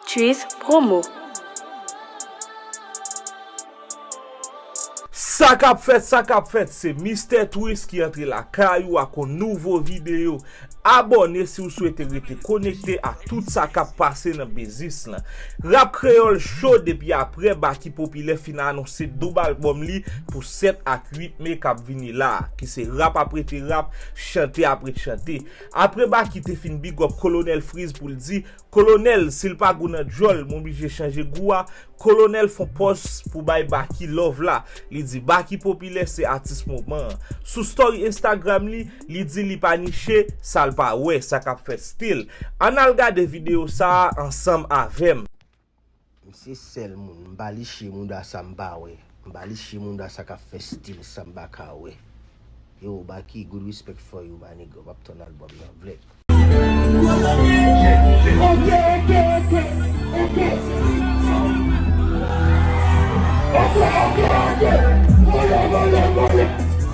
Tchuiss promo. Sa kap fèt sa kap fèt se Mister Twiss ki antre lakay ou ak yon nouvo video Abòne si ou swete rete konekte ak tout sa kap pase nan biznis lan Rap kreyòl cho depi aprè Baky Popilè fin anonse doub albòm li pou 7 ak 8 me kap vini la a ki se rap aprete rap chante aprete chante apre Baky te fin bigòp Kolonèl Frizz pou l di Kolonel sil pa gou nan dyòl m oblije chanje gou a, Kolonel fon pòz pou bay Baky love la, li di Baky popilè se atis moman an. Sou story Instagram li, li di li pa niche sal pa wè, sa kap fèt still. Ann al gade video sa a ansanm avèm. Misye sèl moun m pa liche mouda sa m pa wè m pa liche mouda sa kap fè stil sa m pa ka wè Yow Baky good respect for you my nigga wap tann album nan vlè.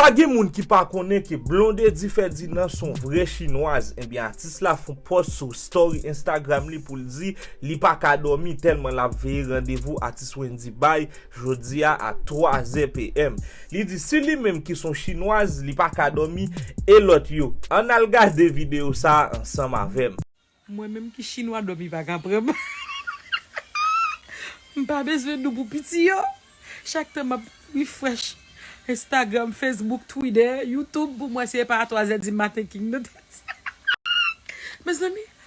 Pa gen moun ki pa konnen ke Blondedy Ferdinand s on vrè chinwaz, enbyen atis la fon pòs sou story Instagram li pou l di li pa ka dòmi tèlman l ap veye randevou atis Wendyy bay jodi a a 3 zè PM. Li di si li menm ki son chinwaz li pa ka domi e lot yo. Ann al gade video sa a ansanm avem. Mwen menm ki chinwa dòmi pa ka pran m m pa bezwen dou pou piti yo chak tan map refresh instagram facebook twitter youtube pou m wè si e pa a 3 zè di maten king nan tèt sa mezanmi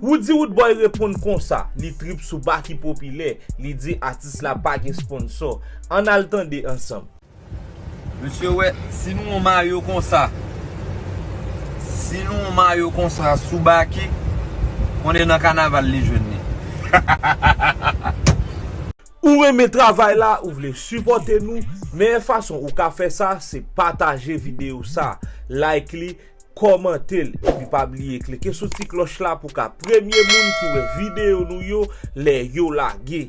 Roody Roodboy reponn konsa, li trip sou Baky Popilè, li di atis la pa gen sponsor. Ann al tande ansanm. Mesye wè si nou yon mayo konsa si nou yon mayo konsa sou Baky konnen nan kanaval li jwenn li hahahahaha. Ou renmen travay la ou vle sipòte nou meyè fason ou ka fè sa se pataje video sa like li Kòmantel epi pa bliye klike sou ti klòch la pou ka premye moun ki wè videyo nou yo lè yo lage.